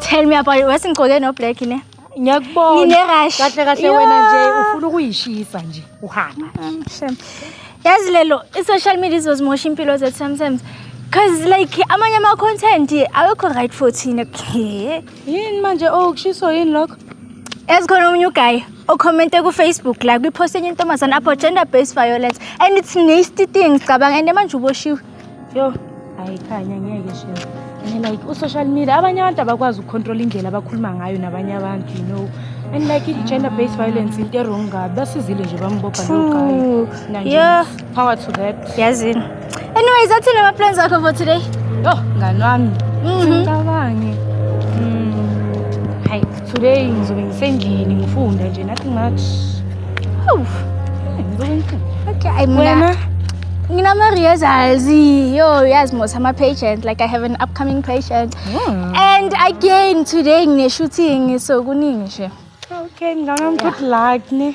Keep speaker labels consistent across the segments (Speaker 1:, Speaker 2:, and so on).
Speaker 1: Tell me about it. Wasingcoke no black ne? Ngiyakubona. Ngine
Speaker 2: rush. Kahle
Speaker 1: kahle wena nje
Speaker 2: ufuna ukuyishisa nje uhamba. Mm, Shem.
Speaker 1: Yazi lelo i-social media izozimosha impilo zethu sometimes. Cause like amanye ama content awekho right for thina. Yini
Speaker 2: manje oh kushiso yini lokho? Ezikhona omunye
Speaker 1: uguy ocommente ku-Facebook la kwi-post enye intombazane apho gender based violence and it's nasty things cabanga and manje uboshiwe. Yo,
Speaker 2: hayi khanya ngeke shema. And like u-social media abanye abantu abakwazi ukucontrola indlela abakhuluma ngayo nabanye abantu you know. And like i-gender based violence into erong kabi basizile nje bambopha lo guy. True. Nanje Yeah. Power to
Speaker 1: that.
Speaker 2: Yazini.
Speaker 1: Anyways, athi nama plans akho for today. Yo, ngani
Speaker 2: wami. Mhm. Ngicabange. Mm. Hi, today ngizobe ngisendlini ngifunda nje nothing much. Hawu. Eh, ngizobe ngifunda.
Speaker 1: Okay, ay mina. Wena? Nginama rehearsals. Yo, yazi mos ama patient like I have an upcoming patient. Hmm. And again today ngine shooting so kuningi nje. Okay, ngicabanga
Speaker 2: good luck ne.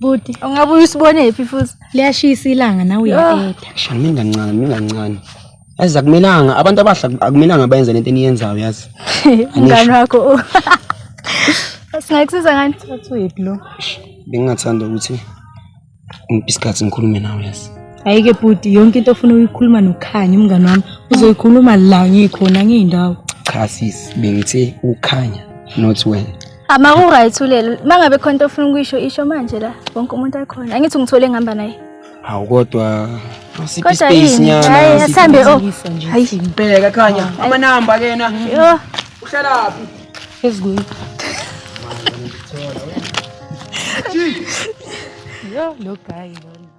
Speaker 3: Buti. Ungabe
Speaker 1: uyisibone phi futhi? Liyashisa ilanga
Speaker 2: nawe uyaeda. Shani mingancane
Speaker 3: mingancane. Yazi akumelanga abantu abahla akumelanga bayenze lento eniyenzayo yazi. Ngani wakho.
Speaker 1: Singayikusiza ngani? Uthwephi lo?
Speaker 2: Bengingathanda
Speaker 3: ukuthi ngiphi isikhathi ngikhulume nawe yazi. Ayike bhuti
Speaker 2: yonke into ofuna uyikhuluma nokhanya umngani wami uzoyikhuluma la ngikhona ngiyindawo. Cha sis
Speaker 3: bengithe ukhanya not wena. Ama ku right
Speaker 1: ulelo. Mangabe khona into ofuna ukuyisho isho manje la. Wonke umuntu akhona. Angithi ngithole ngihamba naye. Hawu kodwa
Speaker 3: siphi space nyana. Hayi asambe o.
Speaker 1: Hayi
Speaker 3: impela khanya. Ama number kena. Yo.
Speaker 1: Uhlala phi?
Speaker 3: Ezweni.
Speaker 2: Yo lo guy lo.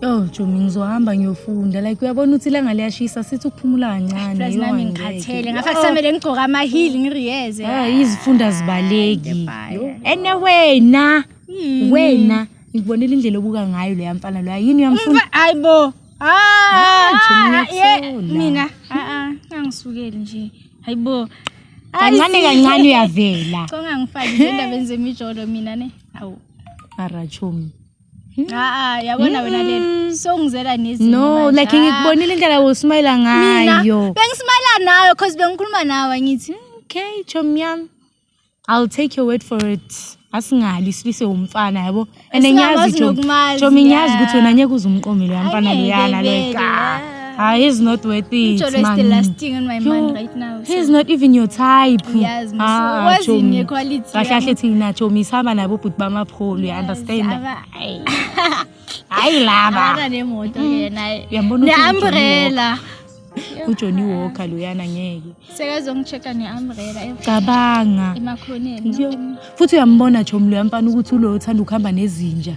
Speaker 1: Yo Jomi ngizohamba
Speaker 2: ngiyofunda like uyabona ukuthi ilanga liyashisa sithi ukuphumula kancane. Plus nami ngikhathele
Speaker 1: ngafa kusamele ngigcoke ama heel ngiriyeze. Ah izifunda
Speaker 2: zibaleki. Anyway na wena ngikubonela indlela obuka ngayo leya mfana loya yini uyamfuna? Hayibo. Ah,
Speaker 1: ah, ah mina a ah, a ah, angisukeli nje. Hayibo. Kancane
Speaker 2: kancane uyavela. Konga ngifakile
Speaker 1: endabeni zemijolo mina ne. Hawu. Arachomi.
Speaker 2: Haa
Speaker 1: yabona wena lena songizela nezinto. No like ngikubonile
Speaker 2: indlela usmile ngayo. Bengismile
Speaker 1: nawe cause bengikhuluma nawe ngithi hmm, okay chomi
Speaker 2: yami. I'll take your word for it. Asingali silise umfana yabo. And ngiyazi chomi ngiyazi ukuthi wena ngeke uzumqomile yamfana leyana like. Ah, he's not worth it. Ijolo is the man. last thing
Speaker 1: on my Yo, mind right now. so- He's not even your type.
Speaker 2: Yes, mse. Ah, Wazi
Speaker 1: Chomi. ne quality Kahle yami. kahle thina Chomi
Speaker 2: sihamba nabo bhuti bamapholo, you understand? Aba- Hayi. Hayi laba. Abana nemoto ke naye.
Speaker 1: Uyambona ukuthi Ne-umbrella.
Speaker 2: uJohnny Walker loyana ngeke. Sekazongi-check-a
Speaker 1: ne-umbrella e- Cabanga.
Speaker 2: emakhoneni. Yo.
Speaker 1: Futhi uyambona
Speaker 2: Chomi loya mfana ukuthi ulo uthanda ukuhamba nezinja.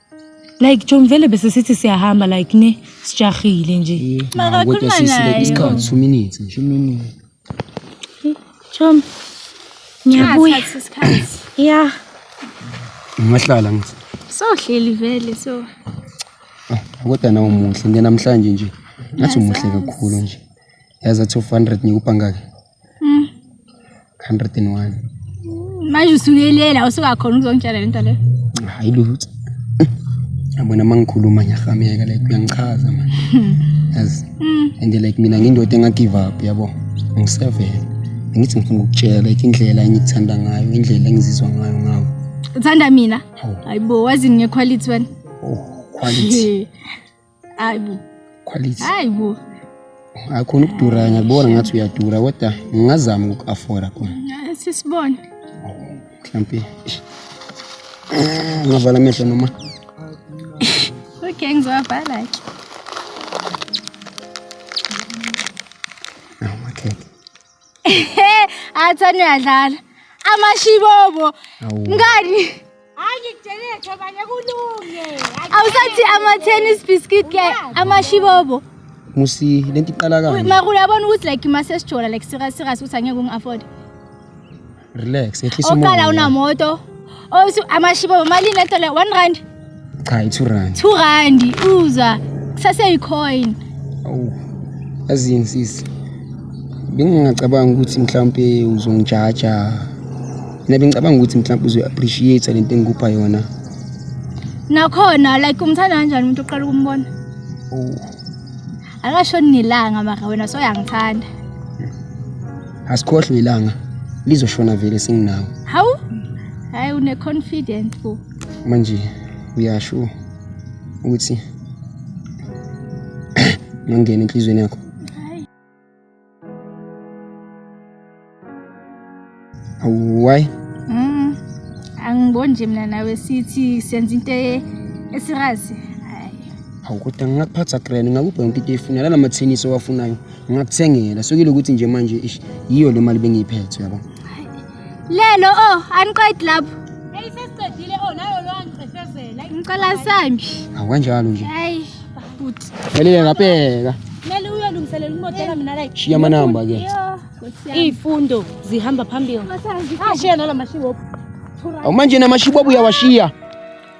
Speaker 2: like John vele bese sithi siyahamba like ne sijahile nje Kodwa Makakhuluma sisi
Speaker 1: like naye. isikhathi two minutes
Speaker 3: nje uminini John
Speaker 2: ngiyabuya Athathe
Speaker 3: isikhathi. ya ungahlala ngithi Sohleli vele
Speaker 1: so. Ah,
Speaker 3: kodwa nawe umuhle ngenamhlanje nje ngathi umuhle kakhulu nje yazi athi of 100 ngikupha ngake Mm. 101. Manje
Speaker 1: usuyelela usukakhona ukuzongitshela lento le. Hayi lutho.
Speaker 3: Yabona mangikhuluma ngiyahameka like uyangichaza manje. Yazi. Mm. And like mina ngindoda enga give up yabo. Ngisevele. Ngithi ngifuna ukutshela like indlela engikuthanda ngayo, indlela engizizwa ngayo ngawo. Uthanda mina?
Speaker 1: Hayibo, wazi ngequality wena. Oh, quality. hayi bo quality
Speaker 3: hayi bo
Speaker 1: akhona
Speaker 3: ukudura ngiyakubona ngathi uyadura kodwa ngingazama uku-afora khona sisibone mhlampe ah, ngavala amehlo noma okay
Speaker 1: ngizowavala
Speaker 3: ke
Speaker 1: athani uyadlala amashibobo ngani hayi ngikutshele
Speaker 2: thobanye kulunge awusathi
Speaker 1: ama-tennis biscuit ke amashibobo musi
Speaker 3: le nto iqala kanje mara uyabona ukuthi like
Speaker 1: masesijola like serious serious ukuthi angeke ungi-afforde
Speaker 3: Relax, yehlisa umoya. Oqala unamoto.
Speaker 1: Osu oh, amashibo imali lento le 1 rand. Cha, i 2
Speaker 3: rand. 2 rand
Speaker 1: uzwa. Kusase i coin. Awu.
Speaker 3: Azini sisi. Bengingacabanga ukuthi mhlawumbe uzongijaja. Mina bengicabanga ukuthi mhlawumbe uzo appreciate lento engikupha yona.
Speaker 1: Nakhona like umthanda kanjani umuntu oqala ukumbona? Oh. Akashoni nelanga mara wena soyangithanda. asikhohlwe
Speaker 3: ilanga lizoshona vele singinawo hawu
Speaker 1: hayi une confident bo manje
Speaker 3: uyasho ukuthi ngangena enhlizweni yakho awuwayi mm
Speaker 1: angiboni nje mina nawe sithi senza into e-, esirazi hayi
Speaker 3: awukodwa ngingakuphatha grand ngakupha yonke into eyifunela namathenisi owafunayo Ngakuthengela sukile ukuthi nje manje ish yiyo le mali bengiyiphethe yabo. Lelo
Speaker 1: oh aniqedi lapho. Hey sesiqedile
Speaker 2: oh nayo lo angicefezela. Ngicela sami.
Speaker 1: Awanjalo nje.
Speaker 3: Hayi
Speaker 1: bhuti. Elile ngabheka.
Speaker 3: Mele uyolungiselela
Speaker 2: imodela mina la. Shiya amanamba ke.
Speaker 3: Izifundo
Speaker 2: zihamba phambili. Ashiya nalamashiwo. Awumanje
Speaker 3: namashiwo uyawashiya.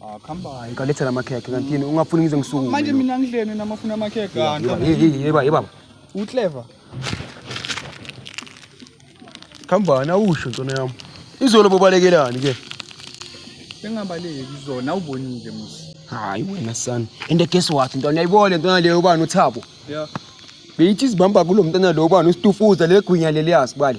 Speaker 3: Ah, khamba hayi
Speaker 4: ngalethela amakhekhe
Speaker 3: kanti yini ungafuni ngize ngisukume manje mina ngidleni
Speaker 4: namafuna amakhekhe kanti Yeba, ye- ye- yeba
Speaker 3: yebaba uclever khambani awusho ntona yami izolo bobalekelani ke bengabaleki
Speaker 4: zona awubonile musi hayi wena sani
Speaker 3: and guess what ntwana yayibole ntwana leyo ubani uthabo ya
Speaker 4: beyithi izibamba
Speaker 3: kulo mntwana lo ubani usitufuza legwinya leliyazi bale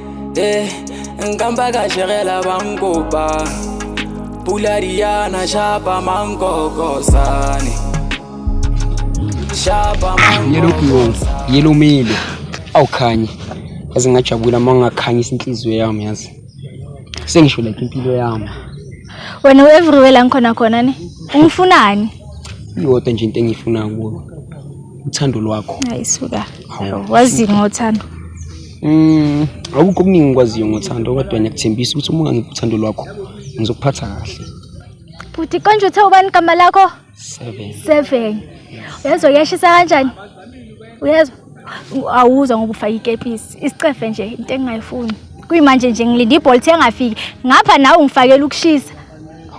Speaker 5: Eh, nkamba ka jerela ba nkopa Pula diana shapa mankoko sane Shapa mankoko
Speaker 3: Yelomile awukhanye Yazi ngajabula uma ngingakhanyisa inhliziyo yami yazi Sengisho like impilo yami Wena
Speaker 1: u-everywhere la ngikhona khona ne ungifunani? Iyodwa
Speaker 3: nje into engiyifuna kuwe uthando lwakho. Hayi suka.
Speaker 1: Wazini ngothando? Mm,
Speaker 3: akukho okuningi ngikwaziyo ngothando kodwa ngiyakuthembisa ukuthi uma ungangiphi uthando lwakho ngizokuphatha kahle. Bhuti
Speaker 1: konje uthe ubani igama lakho? Seven.
Speaker 3: Seven. Uyezwa
Speaker 1: kuyashisa kanjani? Uyezwa? Awuzwa ngoba ufake ikepisi. Isicefe nje into engingayifuni. Kuyimanje nje ngilinde ibolt engafiki. Ngapha nawe ungifakela ukushisa.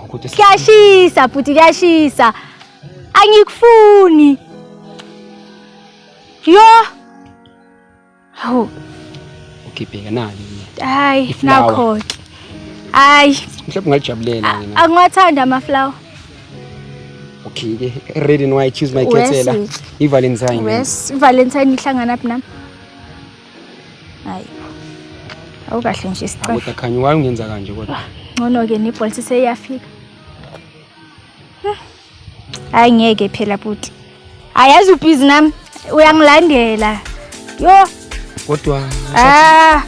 Speaker 1: Kuyashisa bhuti kuyashisa. Angikufuni. Yo! Hawu.
Speaker 3: Ugibheka nani mina? Hayi,
Speaker 1: nakho ke. Hayi. Mhlawumbe
Speaker 3: ungalijabulela mina. Angiwathanda ama flower. Okay ke. Red and white choose my kethela. I Valentine. Yes, Valentine
Speaker 1: ihlangana phi nami? Hayi. Awukahle nje isicelo. Kodwa khanya waye ungenza
Speaker 3: kanje kodwa. Ngcono ke nebholisi
Speaker 1: seyafika. hayi ngeke phela bhuti ayazi ubhizi nami uyangilandela yo kodwa
Speaker 3: ah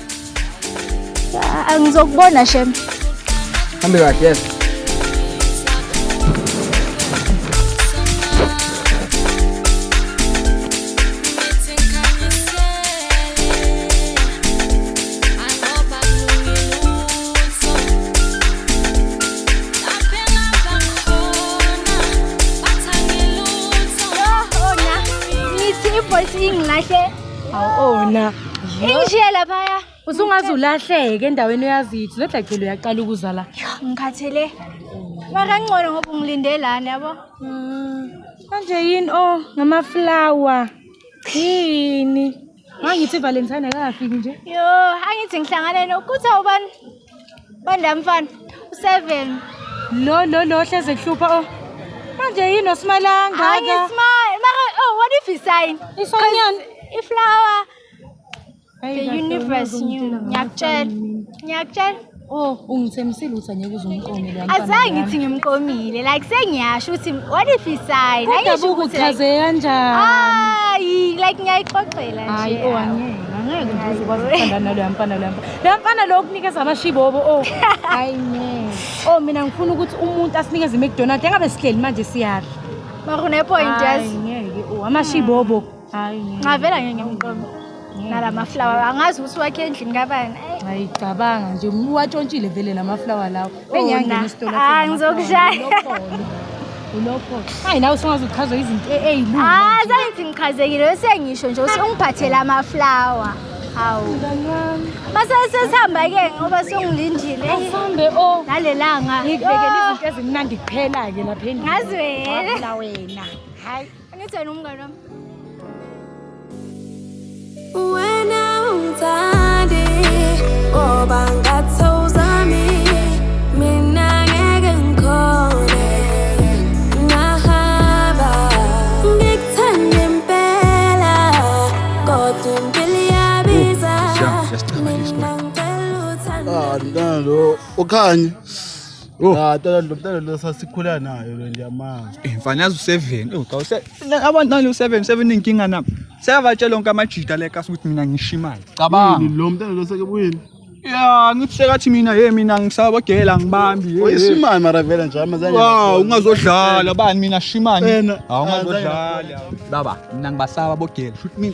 Speaker 1: angizokubona shem hambe
Speaker 3: kahle yes
Speaker 2: khona ingishiye
Speaker 1: laphaya usungaze ulahleke
Speaker 2: endaweni oyazithi lo dlagcelo uyaqala ukuzala ngikhathele
Speaker 1: makangcono ngoba ungilinde lana yabo mm.
Speaker 2: manje yini o oh, ngamaflawa yini Ngangithi Valentine akafiki nje. Yo, angithi
Speaker 1: ngihlangane nokutha ubani? Banda mfana, u7. Lo lo
Speaker 2: lo hleze kuhlupha oh. Manje yini osimalanga ka? Hayi smile. Mara
Speaker 1: oh what if he sign? Isonyan.
Speaker 2: Iflower.
Speaker 1: The universe new. Ngiyakutshela. Ngiyakutshela. Oh,
Speaker 2: ungithembisile ukuthi angeke uzumqomile yami. Azange ngithi
Speaker 1: ngimqomile. Like sengiyasho ukuthi what if he sign? Kodwa buku chaze kanjani?
Speaker 2: Hayi, like
Speaker 1: ngiyayixoxela
Speaker 2: nje. Hayi,
Speaker 1: oh angeke.
Speaker 2: Angeke nje uzokwazi ukuthandana naloya mfana loya mfana. Loya mfana lo kunikeza amashibobo. Oh, hayi ngeke. Oh, mina ngifuna ukuthi umuntu asinikeze iMcDonald's engabe sihleli manje siyaphi. Bakune point
Speaker 1: yes. Hayi ngeke. Oh,
Speaker 2: amashibobo. nxa vela ngeke
Speaker 1: ngikuqome nala maflawa angazi ukuthi wakhe endlini kabani ayicabanga
Speaker 2: nje uwatshontshile vele la maflawa lawo oh, engiyangena isitolo ah, ngizokushaya ulokho hayi nawe usungaze uchazwe izinto e-, eyilu ah zangithi
Speaker 1: ngichazekile sengisho nje usungiphathela amaflawa hawu masesesihamba-ke ngoba songilindile asambe o oh.
Speaker 2: nalelanga ngikubekela
Speaker 1: izinto
Speaker 2: ezimnandi kuphela-ke lapha endlini ngazi wena
Speaker 1: wena
Speaker 2: hayi
Speaker 6: Angitheni umngane wami. Wena ungithandi ngoba ngathi awuzami mina ngeke ngikhone ngahamba ngikuthanda impela kodwa impilo iyabiza mina ngicela uthando Andalo
Speaker 7: ukhanye Oh. Ah, tolo lo tolo lo sasikhula nayo lo nje amanga. Eh, mfana yazi u7. Oh,
Speaker 4: cha use abantu nani u7, 7 inkinga nami. Seyabatshela onke amajita le kasi ukuthi mina ngisho imali. Cabanga. Lo mntana lo seke
Speaker 7: buyini? Ya, ngithi
Speaker 4: sekathi mina hey mina ngisabogela ngibambi. hey, Oyisimani mara vele
Speaker 7: nje amazange. Wow, ungazodlala
Speaker 4: bani mina shimani. Wena, Hawu
Speaker 7: ungazodlala.
Speaker 4: Baba, mina ngibasaba bogela. Shuthi mina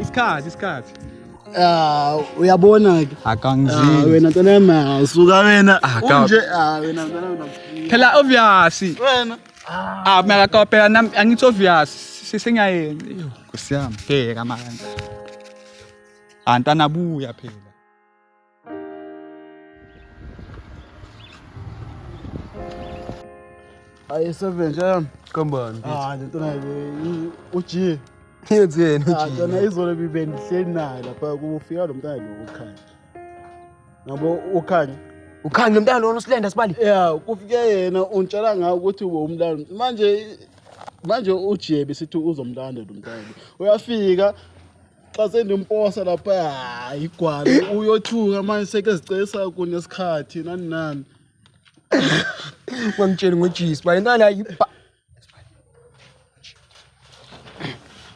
Speaker 4: isikhathi isikhathi Ah, uyabona
Speaker 7: ke. Akangizini. Ah, wena ntwana
Speaker 4: yami
Speaker 7: asuka wena. Ah, Unje ah wena ntwana wena. Phela obvious.
Speaker 4: Wena.
Speaker 7: Ah, mina
Speaker 4: kakopela nami angithi obvious. Sisengayenzi. Nkosi yami, bheka manje. Antana buya phela.
Speaker 7: ayisebenzi yami kambani ah
Speaker 8: lento nayo
Speaker 7: uji yenze
Speaker 8: yena uji ah, yona izolo
Speaker 7: bibendihleli naye lapha kufika lo mntana lo ukhanya nabo ukhanya ukhanya mntana
Speaker 3: lona usilenda sibali ya kufike yena
Speaker 7: untshela ngawo ukuthi ubomlanda manje manje ujiye besithi uzomlanda lo mntana uyafika xa sendimposa lapha hayi igwala uyothuka manje seke zicesa kunesikhathi nani nani
Speaker 3: wangitshela ngojisi bale ntwana yibha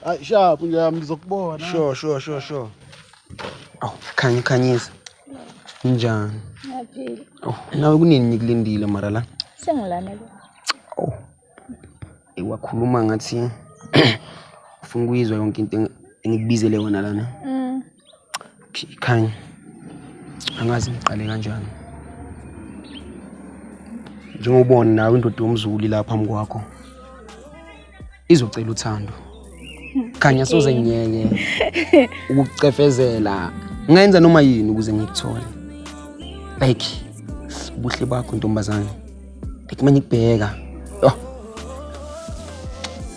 Speaker 7: hayi shapu ngiyami ngizokubona sure sure sure sure
Speaker 3: awu khanya ukhanyisa njani Ngiyaphila.
Speaker 1: awu nawe kunini
Speaker 3: ngikulindile mara la Sengilana ke.
Speaker 1: awu
Speaker 3: wakhuluma ngathi ufuna ukuyizwa yonke into engikubizele yona lana mm. khanya angazi ngiqale kanjani njengobona nawe indoda yomzulu la phambi kwakho izocela uthando khanya soze ngiyeke ukucefezela ngenza noma yini ukuze ngikuthole like ubuhle bakho ntombazane Ethi manje kubheka. Oh.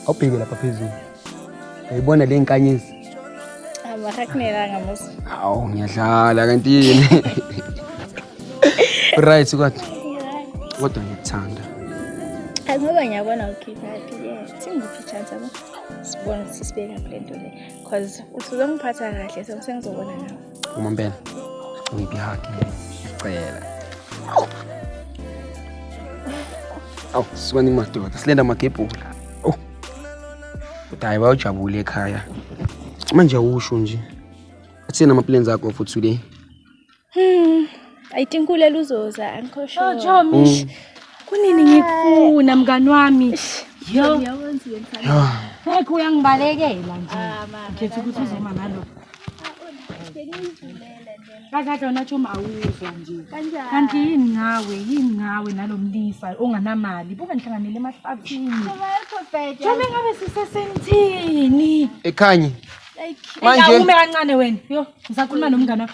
Speaker 3: Awubheke lapha phezulu. Uyibona le nkanyezi. Abahakunelanga
Speaker 1: musa. Awu ngiyadlala
Speaker 3: kanti yini? Right kodwa. Kodwa ngikuthanda.
Speaker 1: Ngoba ngiyabona ukhipha phi ke. Singiphi chance abo. Sibona sisibeka kule nto le. Cause usuzongiphatha kahle so sengizobona nawe. Umampela.
Speaker 3: Ngiphi haki. Cela. Awu, sikwani madoda. Silenda magebhula. Oh. Kodwa hayi bayojabula ekhaya. Manje awusho nje. Athina ama plans akho for today. Hmm.
Speaker 1: I think ulela uzoza angikho sure. Oh Jomish.
Speaker 2: Kunini ngikufuna mngani wami? Yo.
Speaker 1: Ngeke
Speaker 2: uyangibalekela nje. Ngikhetha ukuthi uzoma ngalo. Kakade wena Jomi awuzwa nje. Kanti yini ngawe? Yini ngawe nalomlisa onganamali? Buka ngihlanganele emahlathini. Jomi ngabe sisesenthini? Ekhanyi.
Speaker 3: Manje.
Speaker 2: Awume kancane wena. Yo, ngisakhuluma nomngani wakho.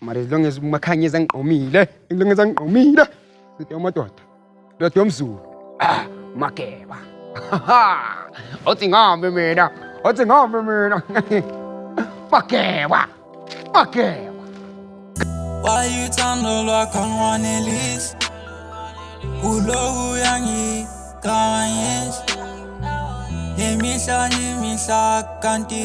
Speaker 3: mara as long as umakhanye ezangigqomile as long as angigqomile side amadoda ndoda yomzulu ah mageba othi ngihambe mina othi ngihambe mina mageba mageba
Speaker 9: Why you turn the lock on one Elise? Ulowu yangi kawanyes. Nemihla nemihla kanti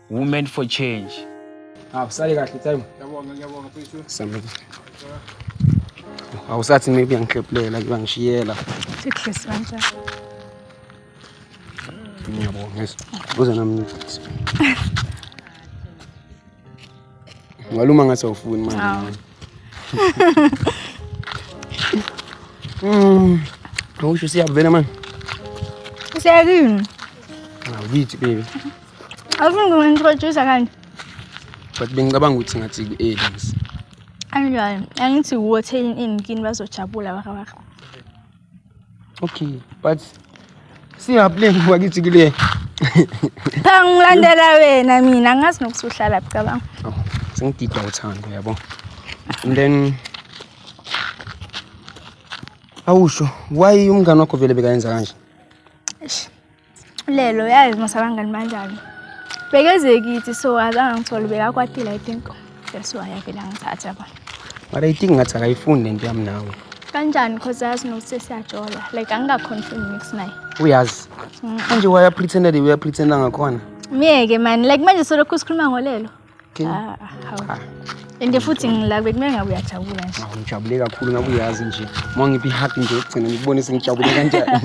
Speaker 5: Women for change. Ah, usale
Speaker 3: kahle time. Yabonga, yabonga
Speaker 7: mfethu.
Speaker 3: Samile. Awusathi maybe angihlephulela kuyangishiyela. Sihlisi
Speaker 1: kanjani?
Speaker 3: Ngiyabonga. Uze nami. Ngaluma ngathi awufuni manje. Mm. Awusho siyavela manje.
Speaker 1: Useyakini.
Speaker 3: Awuyithi baby. Awufuni
Speaker 1: kungi-introducer kanje? But
Speaker 3: bengicabanga ukuthi ngathi ku-Ellis. Anjani?
Speaker 1: Angithi wuwe othelin ini kini bazojabula waka waka. Okay,
Speaker 3: but siyaplay ngoba kithi kule. Cha ngilandela
Speaker 1: wena mina angazi nokuthi uhlala cabanga. Oh, sengidida
Speaker 3: uthando yabo. And then Awusho why umngane wakho vele bekayenza kanje? Eish.
Speaker 1: lelo yazi masabangani banjani bekeze kithi so azange ngithole bekakwatile i think that's why avele angithatha ba but i think ngathi
Speaker 3: akayifuni lento yami nawe kanjani because
Speaker 1: yazi nokuthi siyajola like angikaconfirm mix naye uyazi
Speaker 3: mm. manje wayapretenda le uyapretenda ngakhona myeke mani
Speaker 1: like manje solokhu sikhuluma ngolelo Ah, ah. and futhi ngila bekumele ngabe uyajabula nje awu ngijabule kakhulu ngabe
Speaker 3: uyazi nje uma ngiphi ihug nje yokugcina ngikubone sengijabule kanjani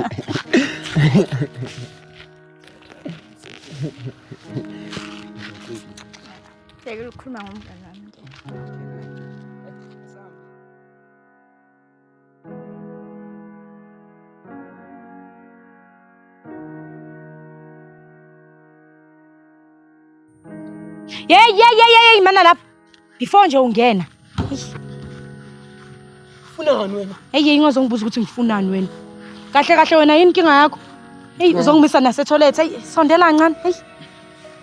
Speaker 3: Sekukhuluma
Speaker 1: ngomngane wami.
Speaker 2: Yey yey yey yey mana lapha. Before nje ungena.
Speaker 3: Ufunani wena? Hey yey ngozongibuza ukuthi
Speaker 2: ngifunani wena. Kahle kahle wena yini inkinga yakho? Hey uzongimisa nase toilet. Hey sondela kancane. Hey.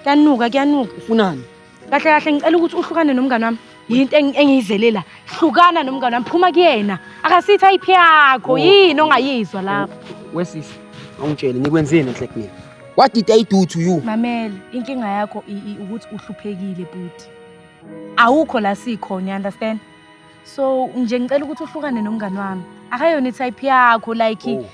Speaker 2: Kuyanuka kuyanuka. Ufunani?
Speaker 3: kahle kahle ngicela
Speaker 2: ukuthi uhlukane nomngane wami yinto engi- engiyizelela hlukana nomngane wami phuma kuyena akasithi ayiphi yakho yini ongayizwa lapho wesisi
Speaker 3: awungitshele ngikwenzeni enhle kumina what did i do to you mamele inkinga
Speaker 2: yakho i- i- ukuthi uhluphekile bhuti awukho la sikhona you understand so nje ngicela ukuthi uhlukane nomngane wami akayona itype yakho like oh.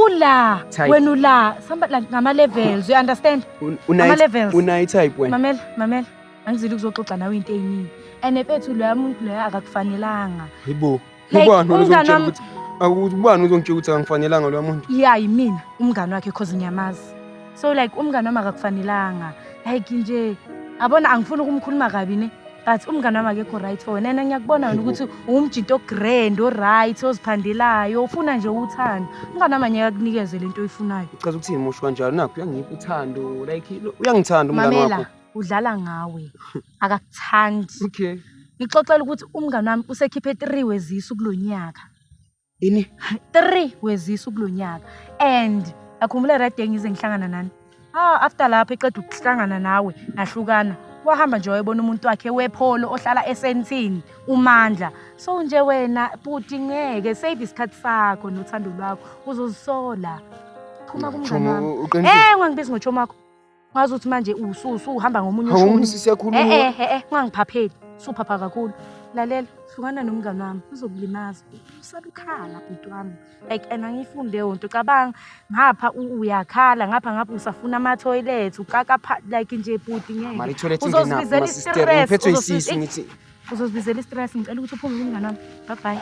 Speaker 2: ula wena ula samba like ngama-levels you understand ngama-levels unayi type wena mamela
Speaker 3: mamela
Speaker 2: angizile ukuzoxoxa nawe into eyiningi and efethu loya muntu loya akakufanelanga yibo
Speaker 3: ubani ozongitshela ukuthi akubani ozongitshela ukuthi akangifanelanga loya muntu ya yimina umngane
Speaker 2: wakhe cause ngiyamazi so like umngane wami akakufanelanga like nje abona angifuni ukumkhuluma kabi ne but umngane wami akekho right for wena yena ngiyakubona wena ukuthi uwumjinto ogrand oright oziphandelayo ufuna nje uthando umngane wami anyeka kunikeze le nto oyifunayo uchaza ukuthini musho kanjalo
Speaker 3: nakho uyangipha uthando like lo- uyangithanda umngane mamela wakho udlala
Speaker 2: ngawe akakuthandi okay
Speaker 3: ngixoxela ukuthi
Speaker 2: umngane wami usekhiphe three wezisu kulo nyaka Yini? Three wezisu kulo nyaka.
Speaker 3: And
Speaker 2: akhumbula right day ngize ngihlangana nani. Ah after lapho eqeda ukuhlangana nawe nahlukana. Wahamba nje wayebona umuntu wakhe wepholo ohlala esentini uMandla. So nje wena buti ngeke save isikhathi sakho nothando lwakho uzozisola. Phuma kumngane Chomo, wami. uqinisile. Eh ngangibizi ngochomo wakho. Wazi ukuthi manje usuhamba ngomunye ushuni. Awumuntu siyakhuluma. Eh eh eh, eh ungangiphapheli. Suphapha kakhulu. Lalela, hlukana nomngane wami, uzokulimaza. Usaba ukhala bhuti wami. Like and angifuni leyo nto. Cabanga ngapha uyakhala, ngapha ngapha usafuna ama toilet, uqaka like nje bhuti ngeke. Mari toilet ingena ma
Speaker 3: sister, uphethwe isisu ngithi. Uzozibizela i-stress,
Speaker 2: ngicela ukuthi uphume kumngane wami. Bye bye.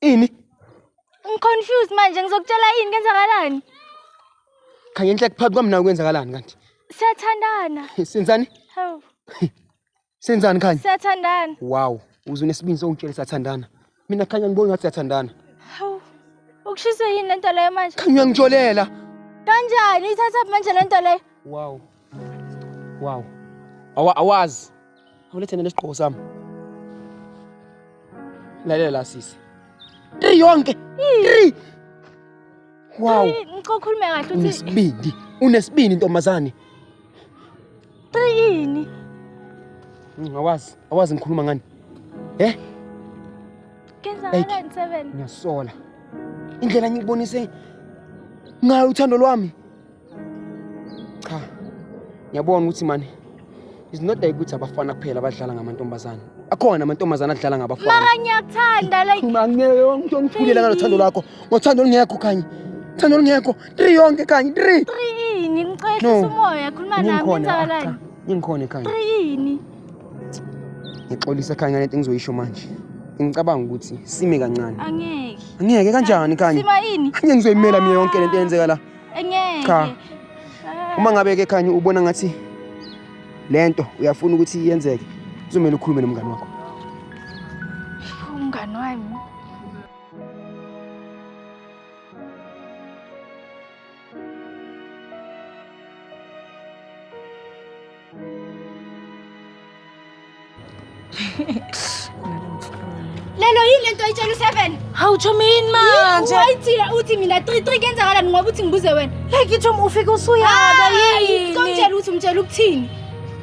Speaker 1: Ini? Ngiconfused manje ngizokutshela yini kwenzakalani?
Speaker 3: Khanye inhle kuphakathi kwami nawe kwenzakalani kanti? Siyathandana.
Speaker 1: Senzani?
Speaker 3: Hawu. Senzani khanye? Siyathandana.
Speaker 1: Wow,
Speaker 3: uzunesibindi sokungitshela siyathandana. Mina khanye ngibona ngathi siyathandana. Hawu.
Speaker 1: Ukushiswe yini lento leyo manje? Khanye uyangitsholela.
Speaker 3: Kanjani?
Speaker 1: Ithatha manje lento leyo? Wow. Wow.
Speaker 3: Awa awazi. Awulethe nene sigqoko sami. Lalela la sisi. Tri yonke. Tri. Wow. Ngicela ukhulume
Speaker 1: kahle uthi Unesibindi. Unesibindi ntombazane. yini? Mm, Awazi.
Speaker 3: Awazi ngikhuluma ngani. Eh?
Speaker 1: Kenza Eight. ngala ngisebenza. Ngiyasola.
Speaker 3: Indlela ngikubonise ngayo uthando lwami. cha ngiyabona ukuthi mani is not like ukuthi abafana kuphela abadlala ngamantombazane akhona amantombazane adlala ngabafana mara ngiyakuthanda
Speaker 1: like mangeke ngitho ngithulele
Speaker 3: ngalo thando lakho ngothando olungekho kanye thando olungekho three yonke kanye three three ini ngicela
Speaker 1: umoya khuluma nami ngizakalani ngingikhona ekhaya three
Speaker 3: ini ngixolisa ekhaya ngale nto engizoyisho manje ngicabanga ukuthi sime kancane angeke angeke
Speaker 1: kanjani kanye sima
Speaker 3: ini angeke ngizoyimela
Speaker 1: mina yonke
Speaker 3: lento eyenzeka la Engeke. Cha. Uma ngabe ke khanye ubona ngathi lento uyafuna ukuthi iyenzeke. Kuzomela ukhulume nomngane wakho.
Speaker 1: Umngane wami. lelo yini lento ayitshela useven hawu tsho mini
Speaker 2: manje wayithile uthi mina
Speaker 1: three three kenzakalani ngoba uthi ngibuze wena like itsho ufike
Speaker 2: usuyaba yini komtshela ukuthi umtshela
Speaker 1: ukuthini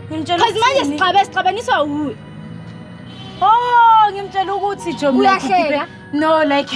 Speaker 1: because
Speaker 2: manje sixabe
Speaker 1: sixabaniswa wuwe oh
Speaker 2: ngimtshela ukuthi tsho uyahleka no
Speaker 1: like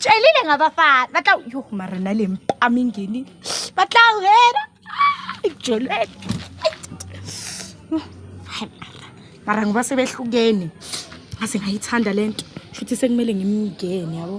Speaker 2: tšwelile ngabafana ba tla yo mara na le mpama ingeni ba tla wena jolwena mara ngoba sebehlukene aze ngayithanda le nto shuthi sekumele ngimngene yabo